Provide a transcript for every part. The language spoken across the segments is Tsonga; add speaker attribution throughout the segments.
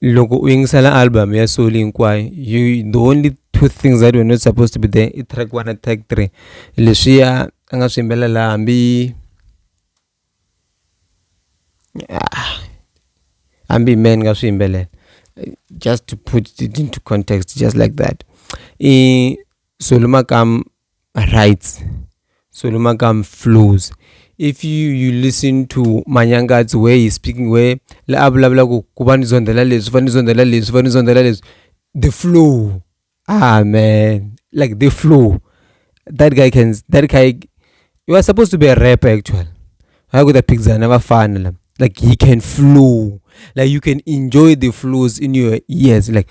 Speaker 1: loko u yingisela album ya solo hinkwayo you the only two things that were not supposed to be there i track one na track three leswiya a nga swi yimbelela hambi ah, hambi man nga swi yimbelela just to put it into context just like that i solo makam my rights so no matter i'm flows if you you listen to manyangatsi where he's speaking where la a vulavula ku ku va ni zondzela leswi va ni zondzela leswi va ni zondzela leswi the flow ah man like the flow that guy can that guy you are supposed to be a rapper actually hayi kuta phikizana vafana la like he can flow like you can enjoy the flows in your ears like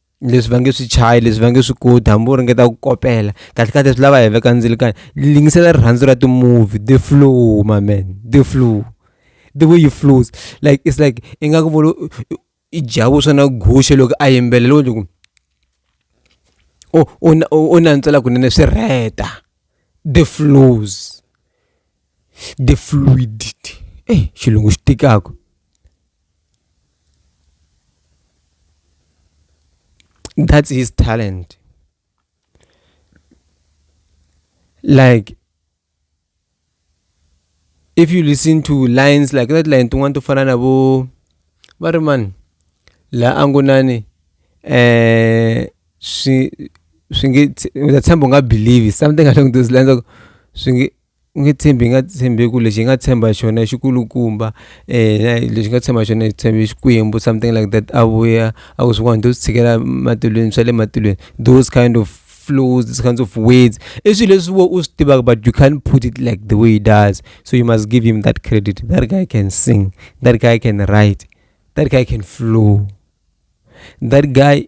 Speaker 1: leswi va nge swi chayi leswi va nge swi koti hambi u ringeta ku kopela kahle kahle swi lava hi veka ndzilo kani lingisela rirhandzu ra ti-movie the flow my man the flow the way you flows like it's like i nga ku volo i dya vuswa na guxe loko a yimbelela loko loko u nantswela kunene swi rheta the flows the fluidity eyi xilungu xi tikaka that's his talent like if you listen to lines like that line tin'wana to fana na vo va ri mani la a ngo nani eh swi swi nge ndza tshemba u nga believe something along those lines swi nge U nge tshembi hi nga tshembi hi ku lexi hi nga tshemba hi xona i xi kulukumba lexi nga tshemba hi xona hi tshembe Xikwembu something like that a vuya a ku swin'wana to swi tshikela matilweni swa le matilweni those kind of flows those kinds of words i swilo leswi wena u swi tivaka but you can't put it like the way he does so you must give him that credit that guy can sing that guy can write that guy can flow that guy.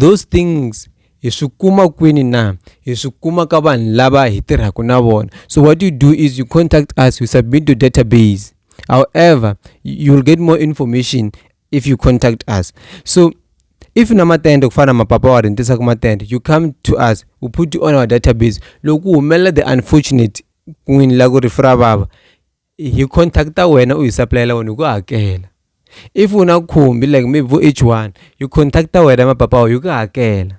Speaker 1: Those things hi swi kuma kwini na hi swi kuma ka vanhu lava hi tirhaka na vona so what you do is you contact us you submit to database however you will get more information if you contact us so if na matende ku fana na mapapa wa rintisaka matende you come to us we put you on our database loko ku humelela the unfortunate n'wini la ku ri fura vava hi contact wena u hi supplyela wena hi ku hakela if u na khumbi like maybe vo h one hi contact wena mapapa hi ku hakela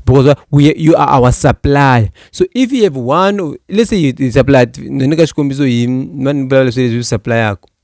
Speaker 1: because we, you are our supplier so if you have one let's say you supply ni ka xikombiso hi mani ni vulavula leswi leswi swi supplyaka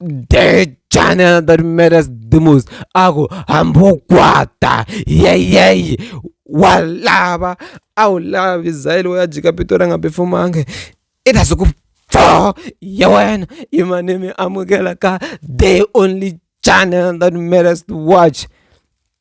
Speaker 1: de channel that matters the most aku hambogwata yeyey walava a wu lavi zayile wo ya jika pito ra nga pefumange i ta siku pfo ya wena i mane mi amukela ka the only channel that matters to watch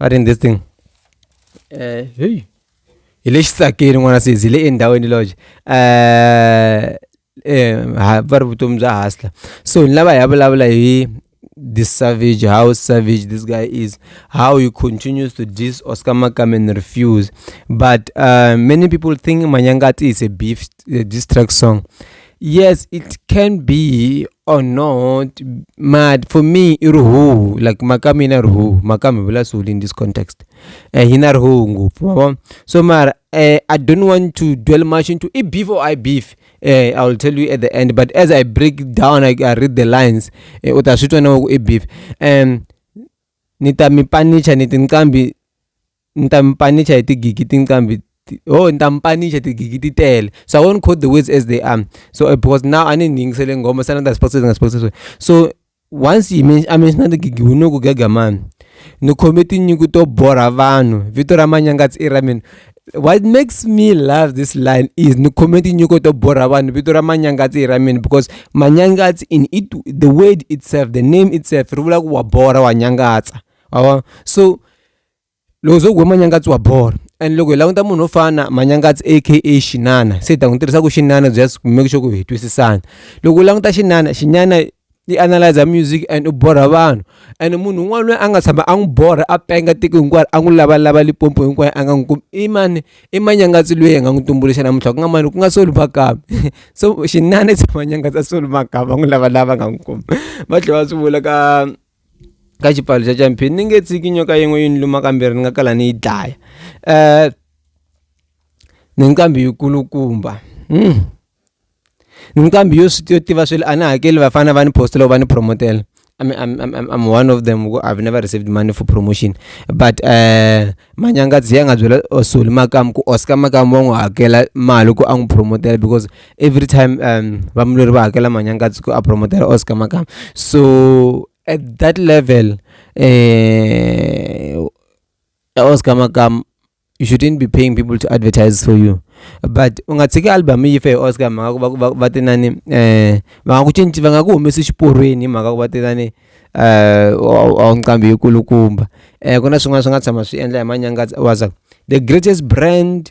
Speaker 1: Not in this thing. Eh, hey. Hi le xitsakeni n'wana sesi hi le endhawini lodge. Eh, eh ha- va ri vutomi bya hustler. So ni lava hi ya vulavula hi this savage how savage this guy is how he continues to diss oscar makame and refuse but uh, many people think manyangati is a beef uh, diss track song yes it can be or not mad for me i rihuhu like maka mina rihuhu maka mi vula swihulu in this context um eh, hi na rihuhu ngopfu mavona so mara uh, i don't want to dwell much into i beef or i beef uh, eh, i will tell you at the end but as i break down i, I read the lines uh, u ta swi twa na ku i beef um ni ta mi panicha ni tinqambi ni ta mi panicha hi tigigi tinqambi ho ni ta mi panicha tigigi ti tele so I won't quote the words as they are so because now a ni ni yingisele nghoma se ni ta sport ni sport so once yi me a mention tigigi wu ni ku gega mani ni khome tinyungu to borha vanhu vito ra manyangatsi i ra mina what makes me love this line is ni khome tinyiko to borha vanhu vito ra manyangatsi hi ra mina because manyangatsi in it the word itself the name itself ri vula ku wa borha wa nyangatsa wa so Loko ho ze hi ku Manyangatsi wa borha and loko hi languta munhu wo fana na Manyangatsi A_K_A xinana se hi ta n'wi tirhisa ku xinana just to make sure ku hi twisisana loko u languta xinana xinyana i analyser music and u borha vanhu and munhu un'wana loyi a nga tshama a n'wi borha a penga tiko hinkwaro a n'wi lavalava Limpopo hinkwayo a nga n'wi kumi i mani i Manyangatsi loyi hi nga n'wi tumbuluxa namuntlha ku nga mani ku nga Soul Makamu so xinana it's Manyangatsa Soul Makamu a n'wi lavalava a nga n'wi kumi va tlhela va swi vula ka. ka xipfalo xa champin ni nge tshiki nyoka yin'we yi ni luma kambirhi ni nga kala ni yi dlaya um ni nqambi yi kulukumba hmm. ni nqambi yo swi yo tiva swilo a ni hakeli vafana va ni post loko va ni promotela I'm, I'm, I'm, I'm one of them i've never received money for promotion but um uh, manyangadzi ya nga byela osoli makamu ku oscar makamu wa n'wi hakela mali ku a n'wi promotela because every time um vamulweri va hakela manyangatsi ku a promotela oscar makama so at that level um oscar makama you shouldn't be paying people to advertise for you but u nga tshiki album yi fe oscar mhaka ku va va te nani um va nga ku cinci va nga ku humesi xiporweni hi mhaka ku va te nani um a nqambi yi kulukumba um ku na swin'wana swi nga tshama swi endla hi manyangatsi waza the greatest brand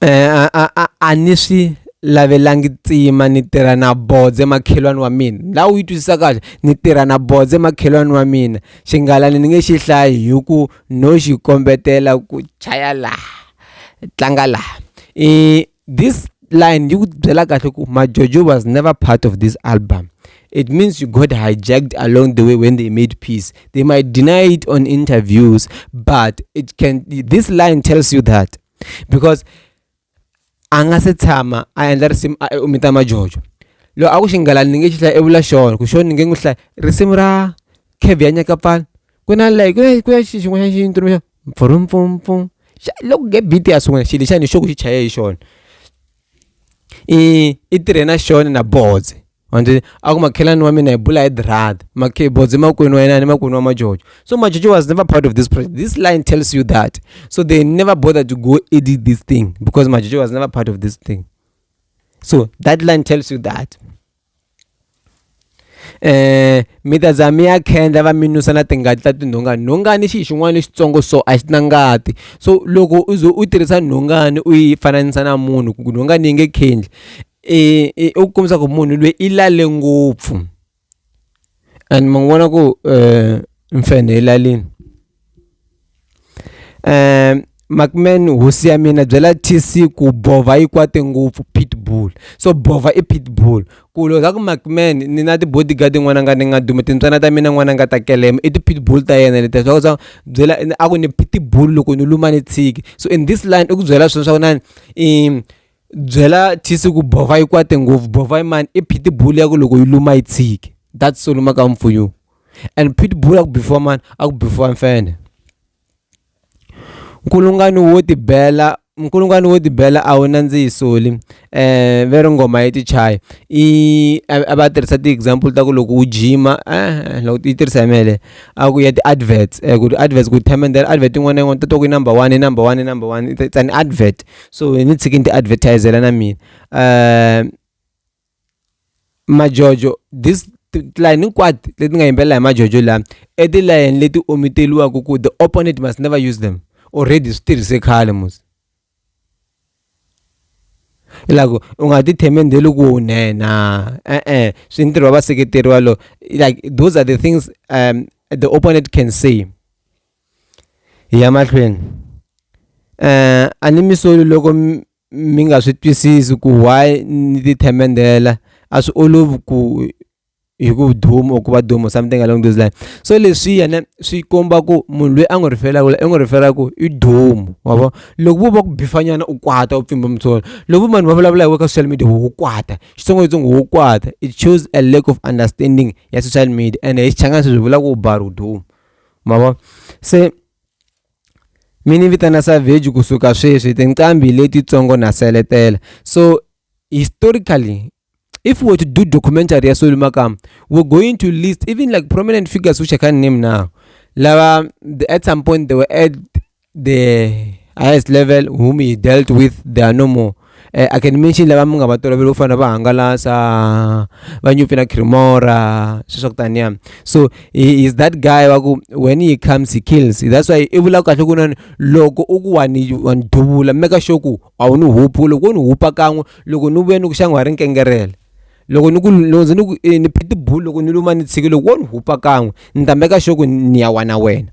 Speaker 1: a a a a ni swi lavelangi tsima ni tirha na bodze makhelwani wa mina la u yi twisisa kahle ni tirha na bodze makhelwani wa mina xingalani ni nge xi hlayi hi ku no xi kombetela ku chaya laha tlanga laha i this line yi ku byela kahle ku majojo was never part of this album it means you got hijacked along the way when they made peace they might deny it on interviews but it can this line tells you that because a nga se tshama a endla risimu a u mita majojo loko a ku xinghala ni nge xi hlaya i vula xona ku xona ni nge n'wi hlaya risimu ra khevi ya nyakapfana ku na like ku na ku na xi xin'wana xa xi ntumbuluxa mpfurumpumpum xa loko nge beat ya sungula xilo xana hi xona ku xi chaye hi xona. i i tirhe na xona na bodze wa swi tiva a ku makhelwani wa mina hi bula hi dirhata makhe bodze makwenu wa yena ni makwenu wa majojo so majojo was never part of this project this line tells you that so they never bother to go edit this thing because majojo was never part of this thing so that line tells you that um mi ta za mi ya khendla va mi nusa na tingati ta tinhongani nhongani xi xin'wana lexitsongo so a xi na ngati so loko u ze u tirhisa nhongani u yi fananisa na munhu ku nhongani yi nge khendli um u kombisa ku munhu loyi i lale ngopfu and mi n'wi vona ku mfenhe elalini Markman hosi ya mina byela T_C ku bovha yi kwate ngopfu Pitbull so bovha i Pitbull ku loko hi za ku Markman ni na ti-bodyguard yin'wana nga ni nga duma timbyana ta mina n'wana nga ta kelema i ti-Pitbull ta yena letiya swa ku swa byela a ku ni Pitbull loko ni luma ni tshiki so in this line i ku byela sweswo swa ku inana i. Byela thisi ku bova yi kwate ngopfu bova yi mani i pitbull ya ku loko yi luma yi tshiki that's so luma ka mpfunyuku and pitbull a ku before mani a ku before mfene nkulungwani wo tibela nkulungwani wo tibela a wu nandzihi soli eh ve ri nghoma yi ti chaya i a va tirhisa ti-example ta ku loko u jima eh loko yi tirhisa hi mele a ku ya ti-adverts ku ti-adverts ku themendela advert yin'wana na yin'wana ta to ku yi number one yi number one yi number one it's an advert. so hi ni tshiki ni ti advertisela na mina um majojo this tilayini hinkwato leti nga yimbelela hi majojo lama i tilayini leti omiteliwaka ku the opponent must never use them already swi tirhise khale musi hilako u nga ti themendeli ku u nena e-e swi ntirho wa vaseketeri walowo like those are the things um the opponent can say Hi ya mahlweni a ni mi soli loko mi nga swi twisisi ku why ni ti themendela a swi olovi ku hi ku duma or ku va duma something along those lines so leswi yena swi komba ku munhu loyi a n'wi rhifelaku i n'wi rhifela ku i duma wa vo loko vo va ku bifanyana u kwata u pfimba mutsolo loko vo vanhu va vulavula hi we ka social media wo kwata xitsongwatsongo wo kwata it shows a lack of understanding ya social media ene hi xichangani sweswi hi vula ku u ba ri u duma. mavona se mi ni vitana savage kusuka sweswi tinqambi letitsongo na seletela so historically if we were to do documentary ya soli makama we're going to list even like prominent figures which i can't name now lava at some point they were at the highest level whom he dealt with they are no more uh, i can mention lava mi nga va tolovela ku fana va hangalasa va nyupfi na cremora sweswi swa ku taniya so he is that guy wa ku when he comes he kills that's why i vulaka kahle ku nani loko u ku wa ni wa ni duvula meka sure ku a wu ni hupi loko wo ni hupa kan'we loko ni vuye ni ku xanga wa ri nkengerela loko ni ku loko ndzi ni ku eh, ni phitibulu loko ni luma ni tshiki loko wo ni hupa kan'we ni ta meka sure ku ni ya wa na wena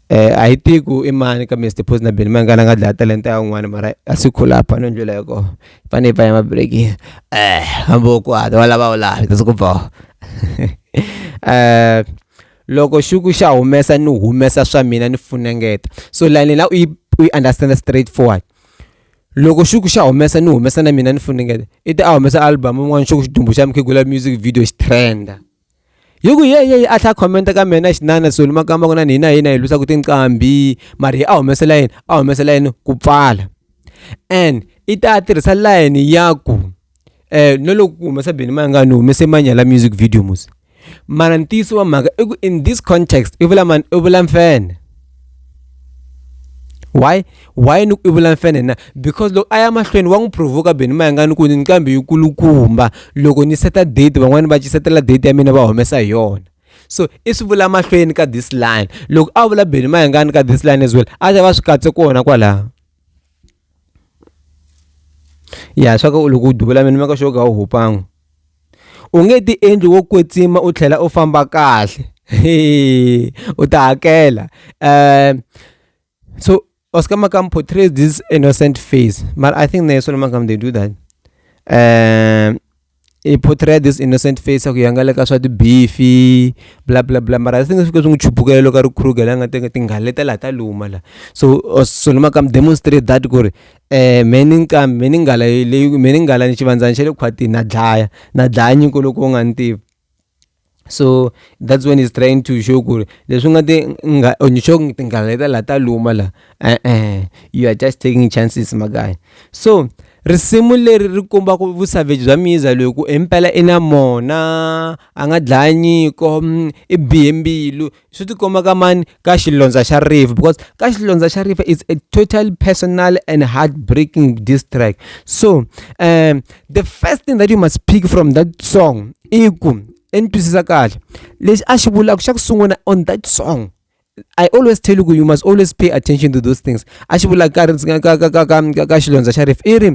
Speaker 1: a yi tivi ku i mani ka Mister Phozi na Benny Mayengani a nga dlaya talenta ya un'wana mara a swi khula a phani ndlela ya kona hi fane hi pfala mabireki eh hambi u kwata wa lava u lava that's ku boha eh loko xuku xa humesa ni humesa swa mina ni funengeta so line la u yi u yi understand straight forward loko xuku xa humesa ni humesa na mina ni funengeta i ta a humesa album un'wana xuku xidumbu xa mukhegula music video xi trenda hi ku ye ye a tlha comment ka mina xinana soli makamba ku na ni hina hina hi lwisaka tinqambi mari a humesela yini a humesela yini ku pfala and i ta tirhisa line ya ku eh no loko ku humesa bini ma nga ni humese manyala music video musi mara ntiyiso wa mhaka i ku in this context i vula mani i vula mfene why why ni ku i vula mfene na because loko a ya mahlweni wa n'wi provoka beni mayangani ku ni nqambi yi kulukumba loko ni seta date van'wani va cisetela date ya mina va humesa hi yona so i swi vula mahlweni ka this line loko a vula beni mayangani ka this line as well a ta va swi katse kona kwalaho ya swa ku loko u duvula mina maka xo ka u hupan'we u nge ti endli wo kwetsima u tlhela u famba kahle u ta hakela um so oscar makam portrays this innocent face but i think naye solomon makam they do that um i portray this innocent face ya ku yangaleka swa tibifi bla bla bla mara i think swi fike swi n'wi chupukela loko a ri kruger la nga teka tinghala leta laha ta luma la so solomon makam demonstrate that ku ri Eh, mheni nqambi mheni nghala leyi mheni nghala ni xivandzana xa le khwatini na dlaya na dlaya nyiko loko u nga ni tivi so that's when he's trying to show ku ri leswi nga ti nga or ni sho tinghala leta laha ta luma laha e-e you are just taking chances my guy so risimu leri ri komba ku vu-savage bya miza loyi ku i mpela i na mona a nga dlaya nyiko i bihe mbilu Swi ti komba ka mani ka xilondza xa river because ka xilondza xa river is a total personal and heartbreaking diss track so um the first thing that you must pick from that song i ku i ni twisisa kahle lexi a xi vulaka xa ku sungula on that song I always tell you you must always pay attention to those things a xi vula ka ka ka ka ka ka ka xilondza xa rifu i ri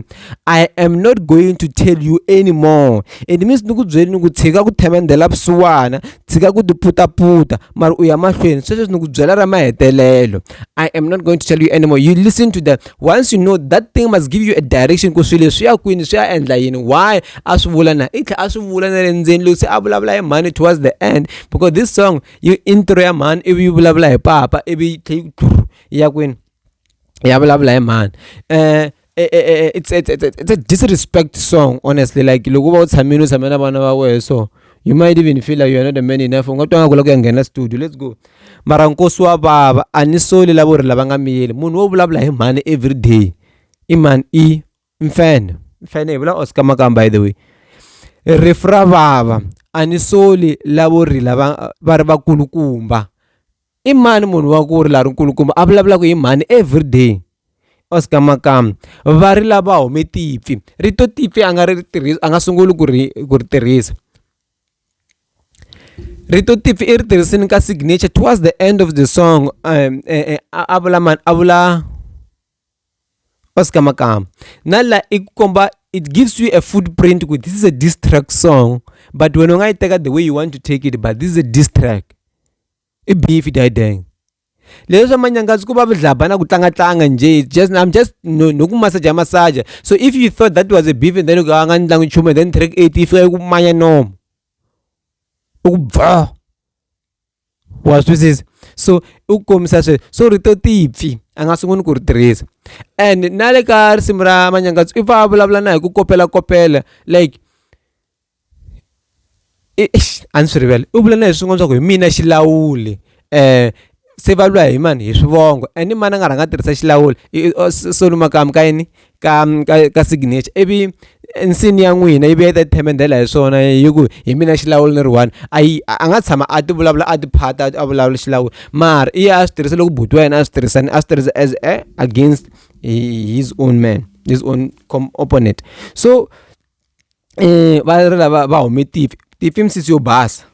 Speaker 1: i am not going to tell you anymore it means ni ku byeli ni ku tshika ku themendela vusiwana tshika ku tiputaputa mara u ya mahlweni swesweswi ni ku byela ra mahetelelo i am not going to tell you anymore you listen to that once you know that thing must give you a direction ku swilo swi ya kwini swi ya endla yini why a swi vula na i tlhela a swi vula na le ndzeni loko se a vulavula hi mhani towards the end because this song yi intro ya mhani ivi yi vulavula hi papa ivi yi tlhela yi yi ya kwini ya vulavula hi mhani um Eh, eh, eh, it's, it's, it's, it's a disrespect song honestly like loko u va u tshamile u tshamela vana va wehe so you might even feel like you're not a man enough u nga twa nga ku la ku ya nghena studio let's go mara nkosi wa vava a ni soli lavo ri lava nga miyeli munhu wo vulavula hi mhani every day i mani i mfana mfana hi vula oscar makam by the way rifu ra vava a ni soli lavo rila va va ri vakulukumba i mani munhu wa ku ri la ri nkulukumba a vulavulaka hi mhani every day oscar makam va ri lava hume tipfi rito tipfi a nga ri tirhisa a nga sunguli ku ri ku ri tirhisa rito tipfi i ri tirhisini ka signature towards the end of the song um, eh, eh, a vula mani a vula va sika makama na la i ku komba it gives you a footprint ku this is a distract song but wena u nga yi teka the way you want to take it but this is a distract i beef dideng leswi swa manyangazi ku va vidlabha na ku tlangatlanga nje just i'm just no, no ku masaja masaja so if you thought that was a beef and then uka nga ndlangu nchumu then track 8 yi fika yi ku manya nomo u ku bva wa swisisa so i ku kombisa sweswo so rito tipfi a nga sunguli ku ri tirhisa and na le ka risimu ra manyangatso i pfa a vulavula na hi ku kopelakopela like a ni swi rivele u vula na hi swin'wana swa ku hi mina xilawuli um se va lwa hi mani hi swivongo and i mani a nga rhanga a tirhisa xilawuli solo makamu ka yini ka ka ka signature ivi nsini ya n'wina yi vuya yi ta themendela hi swona hi ku hi mina xilawula ni ri one a yi a nga tshama a ti vulavula a ti phata a vulavula xilawula mara i ya a swi tirhisa loko buti wa yena a swi tirhisani a swi tirhisa as a against his own man his own opponent so um va ri lava va hume tifi tifi i misisi yo basa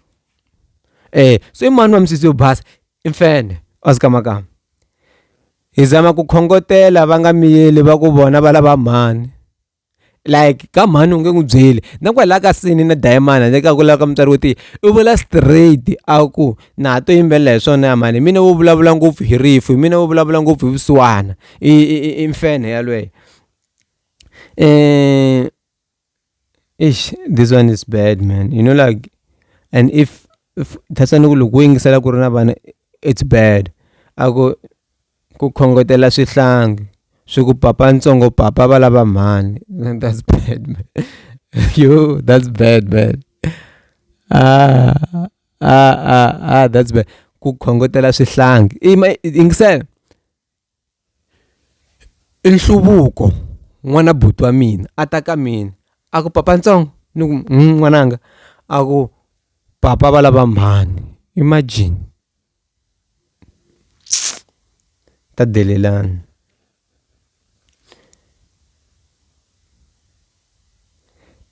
Speaker 1: um so i mani wa misisi yo basa i mfene a swi kamakama Hi zama ku khongotela va nga miyeli va ku vona va lava mhani like ka mhani u nge n'wi byeli na kwalaha ka sini na dayimana le ka ku lava ka mutswari wo tiya i vula straight a ku na ha to yimbelela hi swona ya mhani hi mina wo vulavula ngopfu hi rifu hi mina wo vulavula ngopfu hi vusiwana i i i mfenhe yalweyo . Eish this one is bad man you know like and if if thatsa ni ku loko wo yingisela ku ri na vana it's bad a ku ku khongotela swihlangi swi ku papa ntsongo papa va lava mhani that's bad man yo that's bad man ah ah ah ah that's bad ku khongotela swihlangi yingisela I nhluvuko n'wana buti wa mina a ta ka mina a ku papa ntsongo ni ku n'wananga a ku papa va lava mhani imagine ta delelana.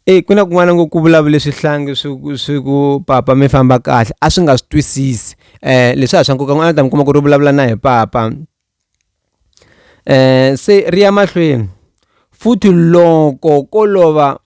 Speaker 1: e ku na kun'wana ngo ku vulavule swihlangi swi ku swi ku papa mi famba kahle a swi nga swi twisisi um leswi a swa nkoka n'wana ta mi kuma ku ri vulavula na hi papa um se ri ya mahlweni futhi loko ko lova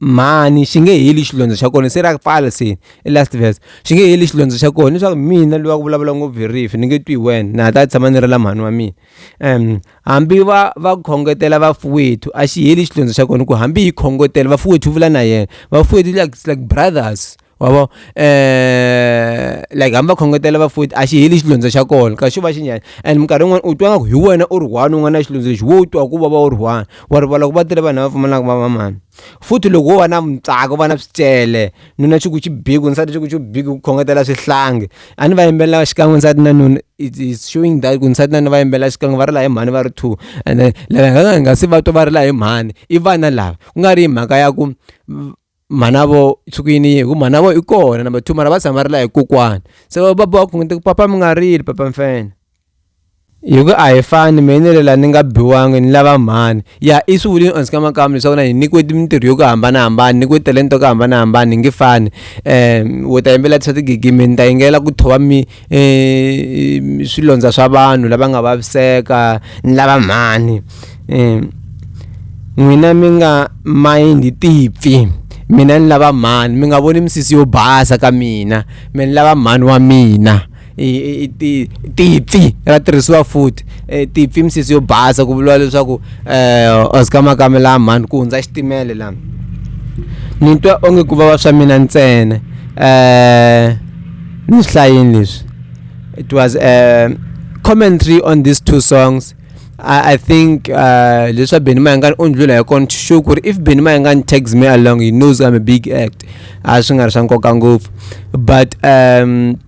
Speaker 1: mhani xi nge heli xilondza xa kona se ra pfala se i last verse xi nge heli xilondza xa kona leswaku mina loyi wa ku vulavula ngopfu hi rifi ni nge twi hi wena na ha ta tshama ni ri la mhani wa mina um Hambi va va khongotela vafuwethu a xi heli xitlondzo xa kona ku hambi hi khongotela vafuwethu vula na yena vafuwethu like it's like brothers wavo eh like hambi va khongotela vafuwethu a xi heli xitlondzo xa kona ka xo va xi nyanya and minkarhi yin'wana u twa nga ku hi wena u ri one u nga na xitlondzo lexi wo twa ku vava u ri one wa rivala ku va tele vanhu lava pfumalaka va va mani futhi loko wo va na mutsako va na swicele nuna xi ku xi biku nsati xi ku xi biku ku khongetela swihlangi a ni va yimbelela xikan'we nsati na nuna it's it's showing that ku nsati na nuna va yimbelela xikan'we va rila hi mhani va ri two ene lava va nga se va twa va rila hi mhani i vana lava ku nga ri hi mhaka ya ku mhana vo tshuki yini yini hi ku mhana vo i kona number two mara va tshama va rila hi kokwana se va boha khongeta ku papa mi nga rili papa mfana. Hikuva a hi fani mehe ni lela ni nga biwangi ni lava mhani ya i swi vulini onse ka makamu leswaku na hi nyikiwe mintirho yo ku hambanahambana ni nyikiwe talenta yo ku hambanahambana hi nge fani um wo ta yimbelela swa tigigi mehe ni ta yingelela ku thova mi um swilondza swa vanhu lava nga vaviseka ni lava mhani um n'wina mi nga mayindi tipfi mina ni lava mhani mi nga voni misisi yo basa ka mina me ni lava mhani wa mina tipfi ra tirhisiwa futhi e, tipfi misisi yo basa ku vuriwa leswaku um oscar makame laha mhani ku hundza xitimele laha ni twa onge ku vava swa mina ntsena um ni swi hlayini leswi it was a commentary on these two songs I, I think uh, leswa Benny Mayengani u ndlula hi kona sure ku ri if Benny Mayengani tags me along he knows I'm a big act a swi nga ri swa nkoka ngopfu but um